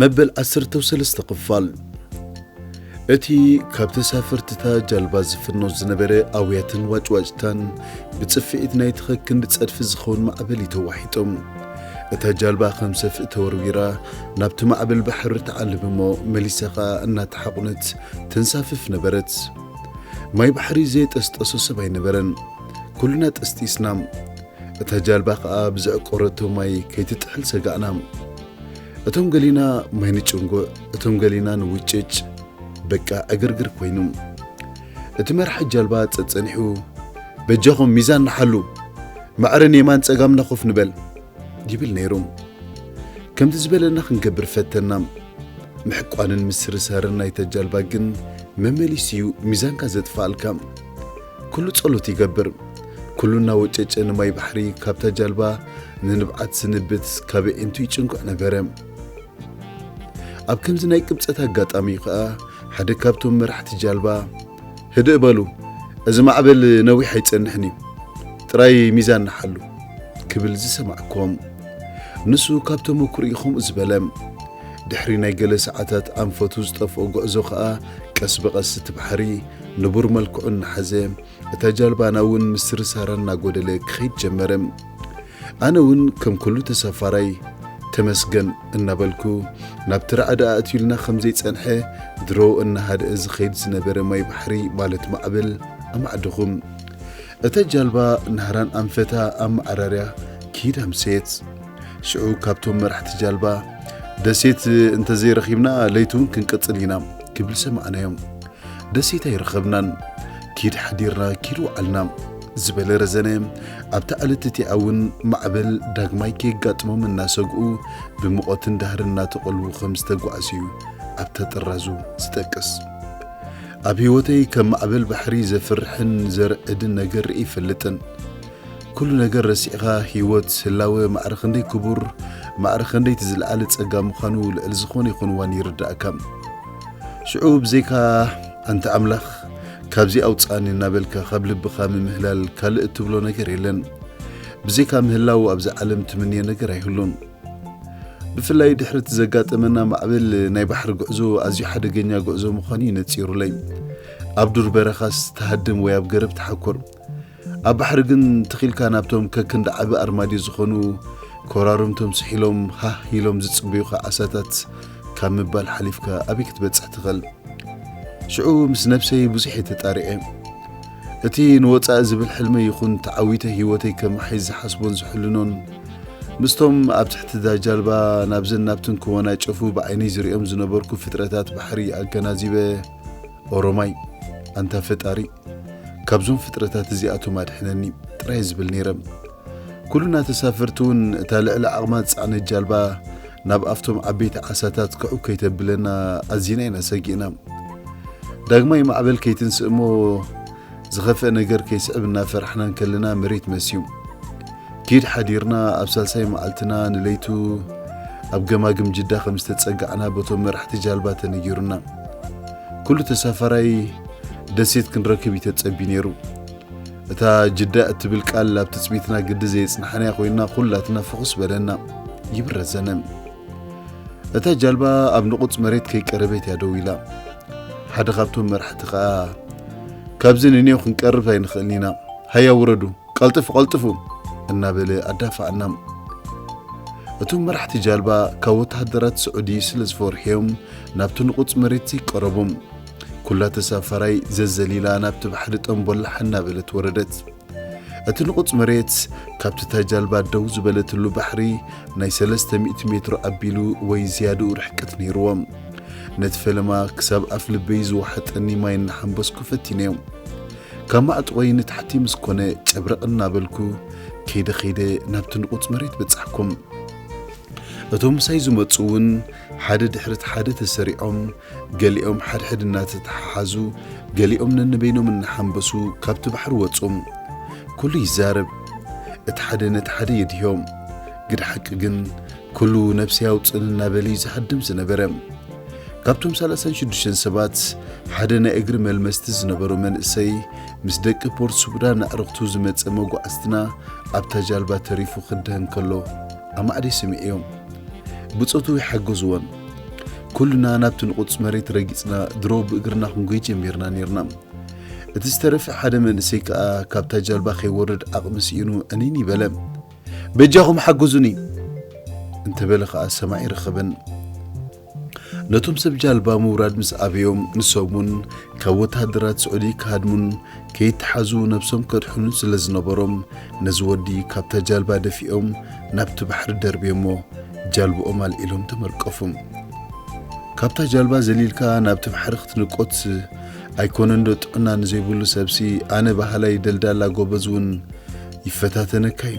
መበል ዓሰርተው ሰለስተ ክፋል እቲ ካብ ተሳፈርትታ ጃልባ ዝፍኖ ዝነበረ ኣውያትን ዋጭዋጭታን ብጽፍዒት ናይቲ ከክንዲ ጸድፊ ዝኸውን ማዕበል እዩ ተዋሒጦም እታ ጃልባ ከም ሰፍኢ ተወርዊራ ናብቲ ማዕበል ባሕሪ ትዓልብ እሞ መሊሳ ኸኣ እናተሓቑነት ተንሳፍፍ ነበረት ማይ ባሕሪ ዘየጠስጠሶ ሰብ ኣይነበረን ኩልና ጠስጢስና እታ ጃልባ ከኣ ብዘዕቆረቶ ማይ ከይትጥሕል ሰጋእና። እቶም ገሊና ማይ ንጭንጉዕ፣ እቶም ገሊና ንውጭጭ፣ በቃ ዕግርግር ኮይኑ። እቲ መራሒ ጃልባ ጸጸኒሑ በጃኹም ሚዛን ንሓሉ፣ ማዕረ ንየማን ጸጋምና ኮፍ ንበል ይብል ነይሩ። ከምቲ ዝበለና ክንገብር ፈተና። ምሕቋንን ምስርሳርን ናይታ ጃልባ ግን መመሊሱ'ዩ ሚዛንካ ዘጥፍኣልካ። ኩሉ ጸሎት ይገብር ኩሉ እናወጨጨ ንማይ ባሕሪ ካብታ ጃልባ ንንብዓት ስንብት ካብ ኣዒንቱ ይጭንኩዕ ነበረ። ኣብ ከምዚ ናይ ቅብጸት ኣጋጣሚ እዩ ከኣ ሓደ ካብቶም መራሕቲ ጃልባ ህድእ በሉ እዚ ማዕበል ነዊሕ ኣይጸንሕን እዩ ጥራይ ሚዛን ንሓሉ ክብል ዝሰማዕኩም ንሱ ካብ ተመኩርኡ ከምኡ ዝበለ ድሕሪ ናይ ገለ ሰዓታት ኣንፈቱ ዝጠፍኦ ጉዕዞ ከኣ ቀስ ብቐስ እቲ ባሕሪ ንቡር መልክዑ እናሓዘ እታ ጃልባና እውን ምስሪ ሳራ እናጎደለ ክኸይድ ጀመረ። ኣነ እውን ከም ኩሉ ተሳፋራይ ተመስገን እናበልኩ ናብቲ ራዕዲ ኣእትዩልና ከም ዘይጸንሐ ድሮ እናሃደኣ ዝኸይድ ዝነበረ ማይ ባሕሪ ማለት ማዕበል ኣማዕደኹ። እታ ጃልባ ናህራን ኣንፈታ ኣብ መዓራርያ ክይድ ኣምሰየት። ሽዑ ካብቶም መራሕቲ ጃልባ ደሴት እንተዘይረኺብና ለይቲ እውን ክንቅጽል ኢና ክብል ሰማዕናዮም። ደሴት ኣይረኸብናን፣ ኪድ ሓዲርና ኪድ ወዓልና ዝበለ ረዘነ፣ ኣብታ ዕለት እቲኣ እውን ማዕበል ዳግማይ ከየጋጥሞም እናሰግኡ ብሙቐትን ዳህርን እናተቐልዉ ከም ዝተጓዕዙ እዩ ኣብታ ጥራዙ ዝጠቅስ። ኣብ ህይወተይ ከም ማዕበል ባሕሪ ዘፍርሕን ዘርዕድን ነገር ርኢ ይፈልጥን። ኩሉ ነገር ረሲዕኻ ህይወት፣ ህላወ፣ ማዕረ ክንደይ ክቡር፣ ማዕረ ክንደይ እቲ ዝለዓለ ጸጋ ምዃኑ ልዕሊ ዝኾነ ይኹን እዋን ይርዳእካ። ሽዑ ብዘይካ ኣንታ ኣምላኽ ካብዚ ኣውጻኒ እናበልካ ካብ ልብኻ ምምህላል ካልእ እትብሎ ነገር የለን። ብዘይካ ምህላው ኣብዛ ዓለም ትምንዮ ነገር ኣይህሉን። ብፍላይ ድሕሪ እቲ ዘጋጠመና ማዕበል ናይ ባሕሪ ጉዕዞ ኣዝዩ ሓደገኛ ጉዕዞ ምዃኑ እዩ ነጺሩለይ። ኣብ ዱር በረኻስ ተሃድም ወይ ኣብ ገረብ ተሓኩር። ኣብ ባሕሪ ግን ትኺልካ ናብቶም ከክንዲ ዓቢ ኣርማድዮ ዝኾኑ ኮራርምቶም ስሒሎም ሃህ ኢሎም ዝጽበዩኻ ዓሳታት ካብ ምባል ሓሊፍካ ኣበይ ክትበጽሕ ትኽእል? ሽዑ ምስ ነብሰይ ብዙሕ እየ ተጣሪዐ። እቲ ንወጻኢ ዝብል ሕልመይ ይኹን ተዓዊተ ህይወተይ ከመሓይሽ ዝሓስቦን ዝሕልኖን ምስቶም ኣብ ትሕቲ እዛ ጃልባ ናብዘን ናብትን ክወናጨፉ ብዓይነይ ዝርእዮም ዝነበርኩ ፍጥረታት ባሕሪ ኣገናዚበ ኦሮማይ ኣንታ ፈጣሪ ካብዞም ፍጥረታት እዚኣቶም ኣድሕነኒ ጥራይ ዝብል ነይረ። ኩሉና ተሳፈርቲ እውን እታ ልዕሊ ዓቕማ ዝጸዕነት ጃልባ ናብ ኣብቶም ዓበይቲ ዓሳታት ክዕው ከይተብለና ኣዚና ኢና ሰጊእና። ዳግማይ ማዕበል ከይትንስእ እሞ ዝኸፍእ ነገር ከይስዕብ እናፈራሕና እንከለና መሬት መስዩ ኪድ ሓዲርና ኣብ ሳልሳይ መዓልትና ንለይቱ ኣብ ገማግም ጅዳ ከም ዝተጸጋዕና በቶም መራሕቲ ጃልባ ተነጊሩና ኩሉ ተሳፋራይ ደሴት ክንረክብ እዩ ተጸቢ ነይሩ እታ ጅዳ እትብል ቃል ኣብ ትጽቢትና ግዲ ዘየጽናሕናያ ኮይና ኩላትና ፍኹስ በለና ይብረዘነ እታ ጃልባ ኣብ ንቑጽ መሬት ከይቀረበት እያ ደው ኢላ። ሓደ ካብቶም መራሕቲ ከኣ ካብዚ ንኔው ክንቀርብ ኣይንኽእልን ኢና፣ ሃያ ውረዱ፣ ቀልጥፉ ቀልጥፉ እናበለ ኣዳፍኣና። እቶም መራሕቲ ጃልባ ካብ ወተሃደራት ስዑዲ ስለ ዝፈርሑዮም ናብቲ ንቑጽ መሬት ዘይቀረቡ። ኩላ ተሳፋራይ ዘዘሊላ ናብቲ ባሕሪ ጠምቦላሕ እናበለት ወረደት። እቲ ንቑጽ መሬት ካብቲ እታ ጃልባ ደው ዝበለትሉ ባሕሪ ናይ ሰለስተ ሚእቲ ሜትሮ ኣቢሉ ወይ ዝያድኡ ርሕቅት ነይርዎ። ነቲ ፈለማ ክሳብ ኣፍ ልበይ ዝወሓጠኒ ማይ እናሓንበስኩ ፈቲነዮ። ካብ ማዕጥቖይ ንታሕቲ ምስ ኮነ ጨብረቕ እናበልኩ ከይደ ከይደ ናብቲ ንቑጽ መሬት በጻሕኩ። እቶም ምሳይ ዝመጹ'ውን ሓደ ድሕሪ እቲ ሓደ ተሰሪዖም፣ ገሊኦም ሓድሕድ እናተተሓሓዙ፣ ገሊኦም ነንበይኖም እናሓንበሱ ካብቲ ባሕሪ ወጹ። ኩሉ ይዛረብ፣ እቲ ሓደ ነቲ ሓደ የድህዮ። ግደ ሓቂ ግን ኩሉ ነብሰይ ኣውጽእኒ እናበለ'ዩ ዝሃድም ዝነበረ። ካብቶም ሰላሳን ሽዱሽተን ሰባት ሓደ ናይ እግሪ መልመስቲ ዝነበሮ መንእሰይ ምስ ደቂ ፖርት ሱብዳን ኣዕርኽቱ ዝመጸ መጓዕዝትና ኣብታ ጃልባ ተሪፉ ክድህን ከሎ ኣማእዲ ስምዒዮም ብጾቱ ይሓገዝዎን ኩልና ናብቲ ንቑጽ መሬት ረጊጽና ድሮ ብእግርና ክንጎይ ጀሚርና ነርና እቲ ዝተረፈ ሓደ መንእሰይ ከኣ ካብታ ጃልባ ከይወርድ ዓቕሚ ስኢኑ ዕኒን ይበለ በጃኹም ሓገዙኒ እንተበለ ከኣ ሰማዒ ረኸበን ነቶም ሰብ ጃልባ ምውራድ ምስ ኣበዮም ንሶም'ውን ካብ ወተሃደራት ስዑዲ ክሃድሙን ከይተሓዙ ነብሶም ከድሕኑን ስለ ዝነበሮም ነዚ ወዲ ካብታ ጃልባ ደፊኦም ናብቲ ባሕሪ ደርብዮሞ ጃልብኦም ኣልዒሎም ተመርቀፉ። ካብታ ጃልባ ዘሊልካ ናብቲ ባሕሪ ክትንቆትስ ኣይኮነንዶ ጥዕና ንዘይብሉ ሰብሲ ኣነ በሃላይ ደልዳላ ጎበዝ'ውን ይፈታተነካ'ዩ።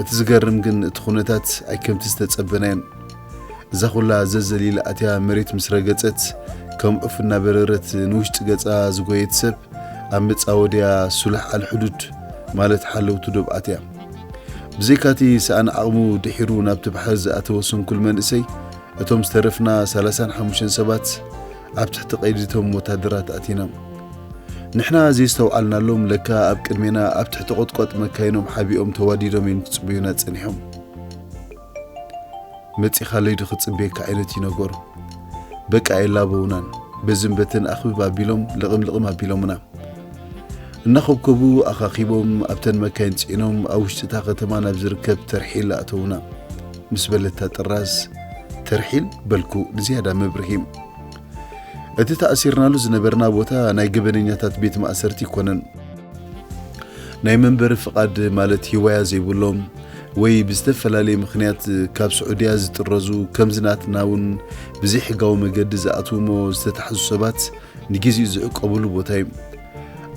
እቲ ዝገርም ግን እቲ ኩነታት ኣይከምቲ ዝተጸበናዮን እዛ ኩላ ዘዘል ኢላ ኣትያ መሬት ምስ ረገጸት ከም ዑፍ እናበረረት ንውሽጢ ገጻ ዝጎየት ሰብ ኣብ መጻወድያ ሱላሕ ኣልሕዱድ ማለት ሓለውቲ ዶብ ኣትያ ብዘይካቲ ሰኣን ዓቕሙ ድሒሩ ናብቲ ባሕሪ ዝኣተወ ስንኩል መንእሰይ እቶም ዝተረፍና ሰላሳን ሓሙሽተን ሰባት ኣብ ትሕቲ ቀይዲ እቶም ወታደራት ኣእቲናም። ንሕና ዘየስተውዓልናሎም ለካ ኣብ ቅድሜና ኣብ ትሕቲ ቆጥቋጥ መካይኖም ሓቢኦም ተዋዲዶም እዮም ክጽበዩና ጸኒሖም። መጺኻለይ ዶ ክጽበየካ ዓይነት እዩ ነገሩ። በቃ የላበውናን በዝን በትን ኣኽብብ ኣቢሎም ልቕም ልቕም ኣቢሎምና። እናኾብኮቡ ኣኻኺቦም ኣብተን መካይን ጽዒኖም ኣብ ውሽጢ እታ ከተማ ናብ ዝርከብ ተርሒል ኣእተውና። ምስ በለታ ጥራዝ ተርሒል በልኩ ንዝያዳ ምብርሂ። እቲ ተኣሲርናሉ ዝነበርና ቦታ ናይ ገበነኛታት ቤት ማእሰርቲ ኣይኮነን። ናይ መንበሪ ፍቓድ ማለት ሂዋያ ዘይብሎም ወይ ብዝተፈላለየ ምኽንያት ካብ ስዑድያ ዝጥረዙ ከምዚ ናትና እውን ብዘይሕጋዊ መገዲ ዝኣትውሞ ዝተታሕዙ ሰባት ንጊዜኡ ዝዕቆብሉ ቦታ እዩ።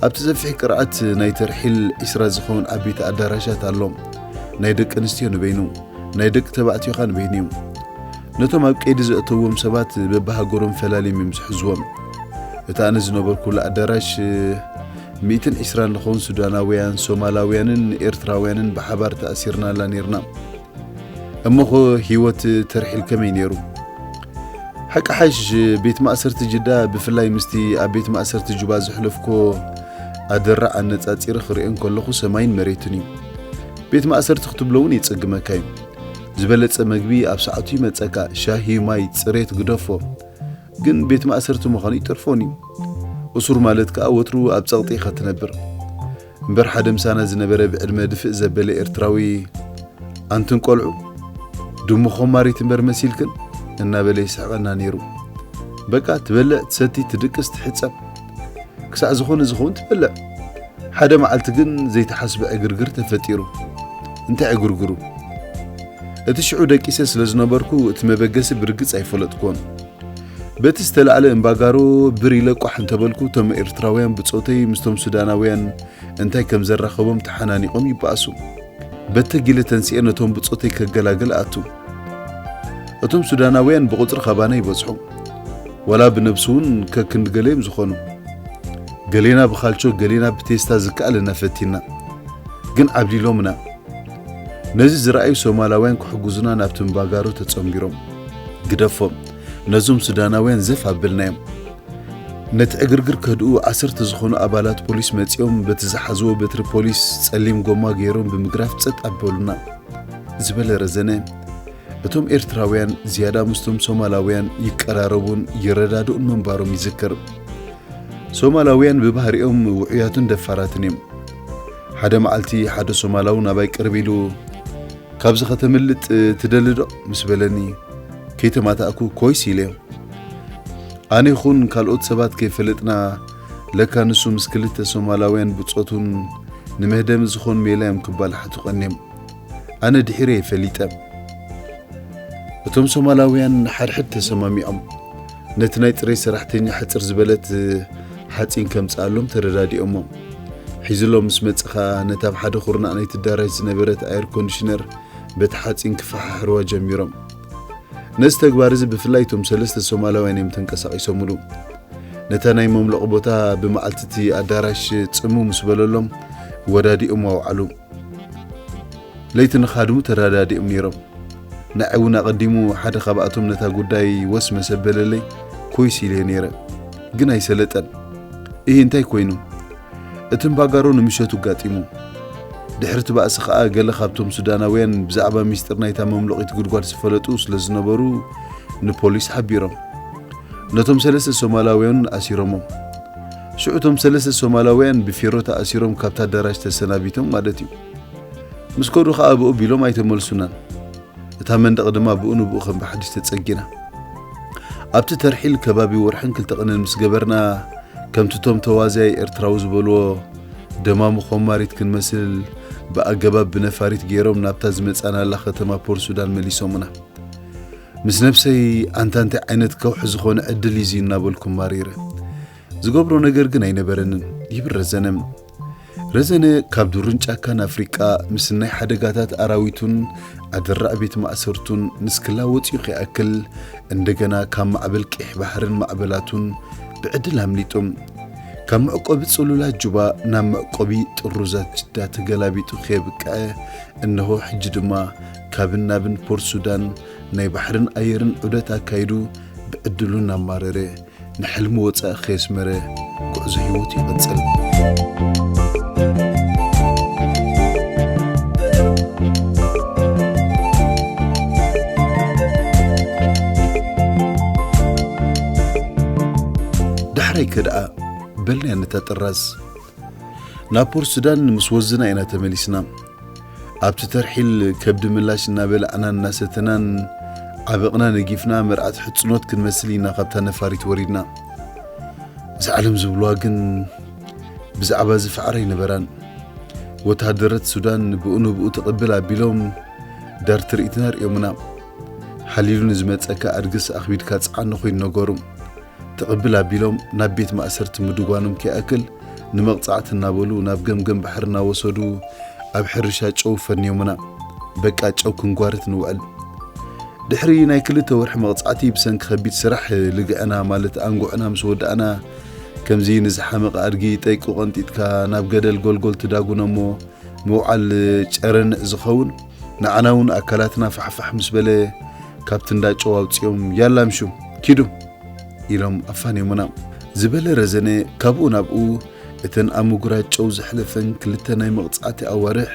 ኣብቲ ሰፊሕ ቅርዓት ናይ ተርሒል ዒስራ ዝኸውን ዓበይቲ ኣዳራሻት ኣሎ። ናይ ደቂ ኣንስትዮ ንበይኑ፣ ናይ ደቂ ተባዕትዮ ከኣ ንበይኑ እዩ። ነቶም ኣብ ቀይዲ ዘእተውዎም ሰባት በብሃገሮም ፈላልዮም እዮም ዝሕዝዎም። እቲ ኣነ ዝነበርኩሉ ኣዳራሽ ሚእትን ዒስራን ንኸውን ሱዳናውያን፣ ሶማላውያንን ኤርትራውያንን ብሓባር ተኣሲርናላ ኔርና። እሞኸ ህይወት ተርሒል ከመይ ነይሩ? ሓቂ ሓይሽ ቤት ማእሰርቲ ጅዳ ብፍላይ ምስቲ ኣብ ቤት ማእሰርቲ ጁባ ዘሕለፍኮ ኣደራዕ ኣነጻጺረ ክርእዮ እንከለኹ ሰማይን መሬትን እዩ። ቤት ማእሰርቲ ክትብሎ እውን የጸግመካ እዩ። ዝበለጸ መግቢ ኣብ ሰዓቱ ይመጸካ፣ ሻሂ፣ ማይ፣ ጽሬት ግደፎ። ግን ቤት ማእሰርቲ ምዃኑ ይተርፎን እዩ። እሱር ማለት ከኣ ወትሩ ኣብ ጸቕጢ ኢኻ ትነብር። እምበር ሓደ ምሳና ዝነበረ ብዕድመ ድፍእ ዘበለ ኤርትራዊ ኣንትን ቆልዑ ድሙ ኾማሪት እምበር መሲልክን እናበለ ይስሕቐና ነይሩ። በቃ ትበልዕ፣ ትሰቲ፣ ትድቅስ፣ ትሕጸብ ክሳዕ ዝኾነ ዝኸውን ትበልዕ። ሓደ መዓልቲ ግን ዘይተሓስበ ዕግርግር ተፈጢሩ። እንታይ ዕግርግሩ? እቲ ሽዑ ደቂሰ ስለ ዝነበርኩ እቲ መበገሲ ብርግጽ ኣይፈለጥኩዎን። በቲ ዝተላዕለ እምባጋሮ ብር ኢለ ቋሕ እንተበልኩ እቶም ኤርትራውያን ብጾተይ ምስቶም ሱዳናውያን እንታይ ከም ዘራኸቦም ተሓናኒቖም ይበኣሱ። በተጊለ ተንሲኤ ነቶም ብጾተይ ከገላግል እኣቱ። እቶም ሱዳናውያን ብቑጽሪ ካባና ይበዝሑ። ዋላ ብነብሲ'ውን ከክንዲ ገለ'ዮም ዝኾኑ። ገሌና ብካልቾ ገሌና ብቴስታ ዝከኣለና ፈቲንና። ግን ዓብሊሎምና። ነዚ ዝረኣዩ ሶማላውያን ክሕግዙና ናብቲ እምባጋሮ ተጸንቢሮም፣ ግደፎም ነዞም ሱዳናውያን ዘፍ ኣበልናዮም። ነቲ ዕግርግር ከህድኡ ዓሰርተ ዝኾኑ ኣባላት ፖሊስ መጺኦም በቲ ዝሓዝዎ በትሪ ፖሊስ ጸሊም ጎማ ገይሮም ብምግራፍ ጸጥ ኣበሉና። ዝበለ ረዘነ እቶም ኤርትራውያን ዝያዳ ምስቶም ሶማላውያን ይቀራረቡን ይረዳድኡን ምንባሮም ይዝክር። ሶማላውያን ብባህሪኦም ውዑያትን ደፋራትን እዮም። ሓደ መዓልቲ ሓደ ሶማላዊ ናባይ ቅርብ ኢሉ ካብዚ ከተምልጥ ትደሊ ዶ ምስ በለኒ ከይተማታእኩ ኮይስ ኢለዮ። ኣነ ይኹን ካልኦት ሰባት ከይፈለጥና ለካ ንሱ ምስ ክልተ ሶማላውያን ብጾቱን ንመህደሚ ዝኾን ሜላ እዮም ክባላሓቱ ቀንዮም። ኣነ ድሒረ እየ ፈሊጠ። እቶም ሶማላውያን ንሓድሕድ ተሰማሚዖም ነቲ ናይ ጽሬት ሰራሕተኛ ሕጽር ዝበለት ሓጺን ከምጽኣሎም ተረዳዲኦሞም። ሒዝሎም ምስ መጸ ከኣ ነታ ኣብ ሓደ ኩርናዕ ናይቲ ኣዳራሽ ዝነበረት ኣየር ኮንዲሽነር በቲ ሓጺን ክፈሓሕርዋ ጀሚሮም። ነዚ ተግባር እዚ ብፍላይ እቶም ሰለስተ ሶማላውያን እዮም ተንቀሳቒሶምሉ። ነታ ናይ መምለቒ ቦታ ብመዓልቲ እቲ ኣዳራሽ ጽምው ምስ በለሎም ወዳዲኦም ኣውዓሉ። ለይቲ ንኻድሙ ተረዳዲኦም ነይሮም። ንዓይ እውን ኣቐዲሙ ሓደ ካብኣቶም ነታ ጉዳይ ወስ መስ ኣበለለይ ኮይስ ኢለዮ ነይረ። ግን ኣይሰለጠን። እሂ እንታይ ኮይኑ? እቲ እምባጋሮ ንምሸቱ ኣጋጢሙ። ድሕሪ እቲ ባእሲ ከኣ ገለ ካብቶም ሱዳናውያን ብዛዕባ ሚስጢር ናይታ መምሎቒት ጉድጓድ ዝፈለጡ ስለ ዝነበሩ ንፖሊስ ሓቢሮም። ነቶም ሰለስተ ሶማላውያን እውን ኣሲሮሞም። ሽዑ እቶም ሰለስተ ሶማላውያን ብፌሮ ተኣሲሮም ካብቲ ኣዳራሽ ተሰናቢቶም ማለት እዩ። ምስ ከዱ ከኣ ብኡ ቢሎም ኣይተመልሱናን። እታ መንደቕ ድማ ብኡ ንብኡ ከም ብሓድሽ ተጸጊና። ኣብቲ ተርሒል ከባቢ ወርሕን ክልተ ቅንን ምስ ገበርና ከምቲ እቶም ተዋዝያይ ኤርትራዊ ዝበልዎ ደማሙ ኮማሪት ክንመስል ብኣገባብ ብነፋሪት ገይሮም ናብታ ዝመጻናላ ከተማ ፖርሱዳን መሊሶሙና። ምስ ነብሰይ ኣንታ እንታይ ዓይነት ከውሒ ዝኾነ ዕድል እዩ እዚ እናበልኩ ማሪረ። ዝገብሮ ነገር ግን ኣይነበረንን። ይብረዘነ። ረዘነ ካብ ዱርን ጫካን ኣፍሪቃ ምስ ናይ ሓደጋታት ኣራዊቱን ኣደራዕ ቤት ማእሰርቱን ምስ ክላ ወጺኡ ከይኣክል እንደገና ካብ ማዕበል ቂሕ ባሕርን ማዕበላቱን ብዕድል ኣምሊጡ ካብ መዕቆቢ ጽሉላት ጁባ ናብ መዕቆቢ ጥሩዛት ጅዳ ተገላቢጡ ከየብቅዐ እነሆ ሕጂ ድማ ካብን ናብን ፖርት ሱዳን ናይ ባሕርን ኣየርን ዑደት ኣካይዱ ብዕድሉ እናማረረ ንሕልሚ ወጻኢ ከየስመረ ጉዕዞ ህይወቱ ይቕጽል። ዳሕራይከ ደኣ በልናያ ነታ ጥራዝ ናብ ፖርት ሱዳን ምስ ወዝና ኢና ተመሊስና። ኣብቲ ተርሒል ከብዲ ምላሽ እናበላዕናን እናሰተናን ዓበቕና ነጊፍና መርዓት ሕጽኖት ክንመስል ኢና ካብታ ነፋሪት ወሪድና። እዛ ዓለም ዝብሉዋ ግን ብዛዕባ እዚ ፋዕራ ኣይነበራን። ወተሃደረት ሱዳን ብኡ ንብኡ ተቐብል ኣቢሎም ዳር ትርኢትና ኣርእዮምና። ሓሊሉ ንዝመጸካ ኣድግስ ኣኽቢድካ ጽዓኖ ኮይኑ ነገሩ። ትቕብል ኣቢሎም ናብ ቤት ማእሰርቲ ምድጓኖም ከይኣክል ንመቕጻዕቲ እናበሉ ናብ ገምገም ባሕሪ እናወሰዱ ኣብ ሕርሻ ጨው ፈንዮሙና። በቃ ጨው ክንጓርት ንውዕል። ድሕሪ ናይ ክልተ ወርሒ መቕጻዕቲ ብሰንኪ ከቢድ ስራሕ ልግዕና ማለት ኣንጉዕና ምስ ወዳእና ከምዚ ንዝሓመቐ ኣድጊ ጠይቁ ቀንጢጥካ ናብ ገደል ጎልጎል ትዳጉኖ እሞ ምውዓል ጨረንዕ ዝኸውን ንዓና እውን ኣካላትና ፋሕፋሕ ምስ በለ ካብቲ እንዳ ጨው ኣውፂኦም ያላ ምሹ ኪዱ ኢሎም ኣፋንዮሙና ዝበለ ረዘነ ካብኡ ናብኡ እተን ኣብ ምጉራጅ ጨው ዘሕለፈን ክልተ ናይ መቕፃዕቲ ኣዋርሕ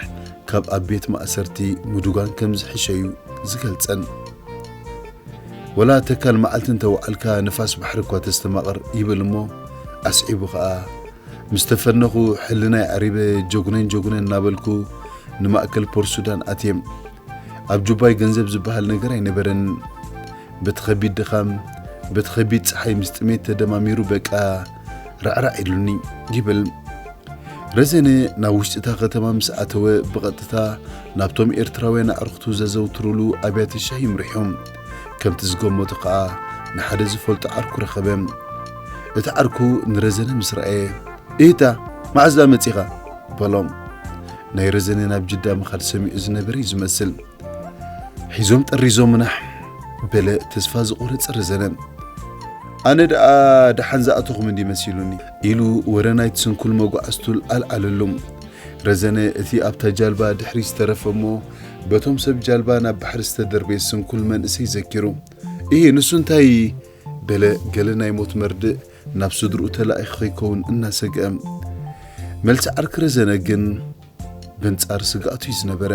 ካብ ኣብ ቤት ማእሰርቲ ምዱጋን ከም ዝሕሸ እዩ ዝገልፀን። ወላ ተካል መዓልቲ እንተወዓልካ ንፋስ ባሕሪ እኳ ተስተማቕር ይብል እሞ ኣስዒቡ ከዓ ምስ ተፈነኹ ሕልናይ ኣዕሪበ ጀጉነን ጀጉነን እናበልኩ ንማእከል ፖርት ሱዳን ኣትየም። ኣብ ጁባይ ገንዘብ ዝበሃል ነገር ኣይነበረንን። በቲ ከቢድ ድኻም፣ በቲ ከቢድ ጸሓይ ምስ ጥሜት ተደማሚሩ በቃ ራዕራዕ ኢሉኒ ይብል። ረዘነ ናብ ውሽጢ እታ ከተማ ምስ ኣተወ ብቐጥታ ናብቶም ኤርትራውያን ኣዕርኽቱ ዘዘውትሩሉ ኣብያተ ሻሂ ይምርሖም። ከምቲ ዝገመቶ ከኣ ንሓደ ዝፈልጦ ዓርኩ ረኸበ። እቲ ዓርኩ ንረዘነ ምስ ረኣየ። ኢህታ! መዓስ ደኣ መጺኻ? በሎም። ናይ ረዘነ ናብ ጅዳ ምኻድ ሰሚዑ ዝነበረ እዩ ዝመስል። ሒዞም ጠሪዞምና በለ ተስፋ ዝቖረጸ ረዘነ። ኣነ ደኣ ደሓን ዝኣተኹም እንዲ መሲሉኒ ኢሉ ወረ ናይቲ ስንኩል መጓዕዝቱ ኣልዓለሉ። ረዘነ እቲ ኣብታ ጃልባ ድሕሪ ዝተረፈ እሞ በቶም ሰብ ጃልባ ናብ ባሕሪ ዝተደርበየ ስንኩል መንእሰይ ዘኪሩ እሂ ንሱ እንታይ በለ ገለ ናይ ሞት መርድእ ናብ ስድርኡ ተላኢኺ ከይከውን እናሰግአ። መልሲ ዓርኪ ረዘነ ግን በንጻር ስግኣቱ'ዩ ዝነበረ።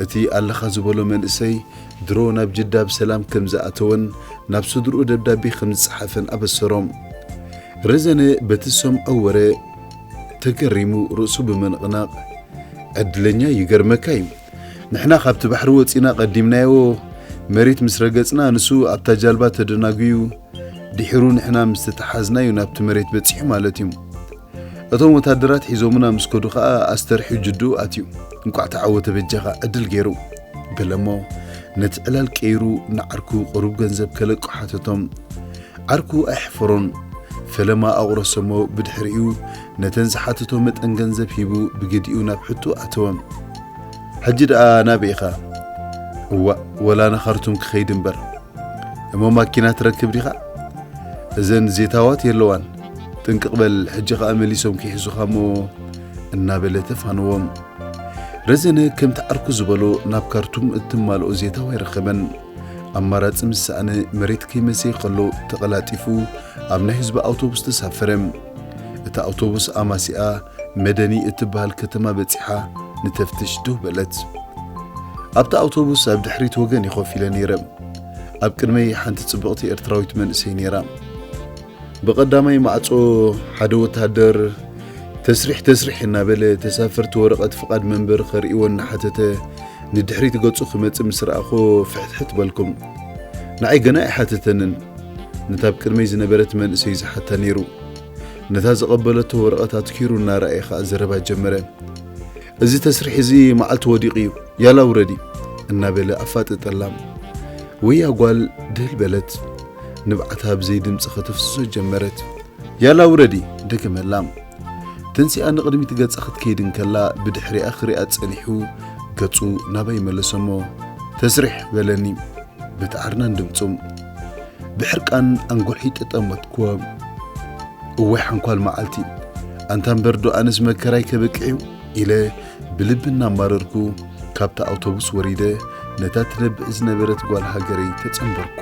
እቲ ኣለኻ ዝበሎ መንእሰይ ድሮ ናብ ጅዳ ብሰላም ከም ዝኣተወን ናብ ስድርኡ ደብዳቤ ከም ዝጸሓፈን ኣበሰሮ። ረዘነ በቲ ዝሰምዖ ወረ ተገሪሙ ርእሱ ብምንቕናቕ፣ ዕድለኛ ይገርመካ'ዩ፣ ንሕና ካብቲ ባሕሪ ወጺና ቀዲምናዮ መሬት ምስ ረገጽና ንሱ ኣብታ ጃልባ ተደናጉዩ፣ ድሒሩ ንሕና ምስ ተተሓዝናዩ ናብቲ መሬት በጺሑ ማለትዩ። እቶም ወታደራት ሒዞሙና ምስ ከዱ ከኣ ኣስተርሕዩ ጅድኡ ኣትዩ። እንቋዕ ተዓወተ በጃኻ ዕድል ገይሩ። በለሞ ነቲ ዕላል ቀይሩ ንዓርኩ ቁሩብ ገንዘብ ከለቁ ሓተቶም። ዓርኩ ኣይሐፈሮን። ፈለማ ኣቑረሶሞ ብድሕሪኡ ነተን ዝሓተቶ መጠን ገንዘብ ሂቡ ብግዲኡ ናብ ሕትኡ ኣተወ። ሕጂ ደኣ ናበይ ኢኻ? እዋእ ወላ ንኻርቱም ክኸይድ እምበር። እሞ ማኪና ትረክብ ዲኻ? እዘን ዜታዋት የለዋን፣ ጥንቅቕ በል ሕጂ ኸኣ መሊሶም ክይሕዙኻ እሞ እናበለ ተፋነዎም። ረዘነ ከምቲ ዓርኩ ዝበሎ ናብ ካርቱም እትማልኦ ዜታዋ ኣይረኸበን። ኣማራጺ ምስ ሰኣነ መሬት ከይመሰየ ከሎ ተቐላጢፉ ኣብ ናይ ህዝቢ ኣውቶቡስ ተሳፈረ። እታ ኣውቶቡስ ኣማሲኣ መደኒ እትበሃል ከተማ በጺሓ ንተፍትሽ ድው በለት። ኣብታ ኣውቶቡስ ኣብ ድሕሪት ወገን እየ ኮፍ ኢለ ነይረ። ኣብ ቅድመይ ሓንቲ ጽብቕቲ ኤርትራዊት መንእሰይ ነይራ። ብቐዳማይ ማዕጾ ሓደ ወተሃደር ተስሪሕ ተስሪሕ እናበለ ተሳፈርቲ ወረቐት ፍቓድ መንበሪ ከርእይዎ እናሓተተ ንድሕሪት ገጹ ክመጽእ ምስ ረኣኹ ፍሕትሕት በልኩም። ንዓይ ገና ኣይሓተተንን። ነታ ኣብ ቅድመይ ዝነበረት መንእሰይ ዝሓታ ነይሩ። ነታ ዝቐበለቶ ወረቐት ኣትኪሩ እናረኣየ ኸኣ ዘረባ ጀመረ። እዚ ተስርሒ እዚ መዓልቲ ወዲቑ እዩ፣ ያላ ውረዲ እናበለ ኣፋጠጠላ። ወያ ጓል ድህል በለት። ንብዓታ ብዘይ ድምፂ ከተፍስሶ ጀመረት። ያላ ውረዲ! ደገመላ። ተንሲኣ ንቕድሚት ገጻ ክትከይድ እንከላ ብድሕሪኣ ክሪኣ ጸኒሑ ገጹ ናባይ መለሰሞ። ተስርሕ! በለኒ። በቲ ኣርናን ድምፁ ብሕርቃን ኣንጎልሒ ጠጠመትኩዎ እዋይ ሓንኳል መዓልቲ ኣንታ እምበር ዶ ኣነስ መከራይ ከብቅዕ እዩ ኢለ ብልቢ እናማረርኩ ካብታ ኣውቶቡስ ወሪደ ነታ ትነብዕ ዝነበረት ጓል ሃገረይ ተጸንበርኳ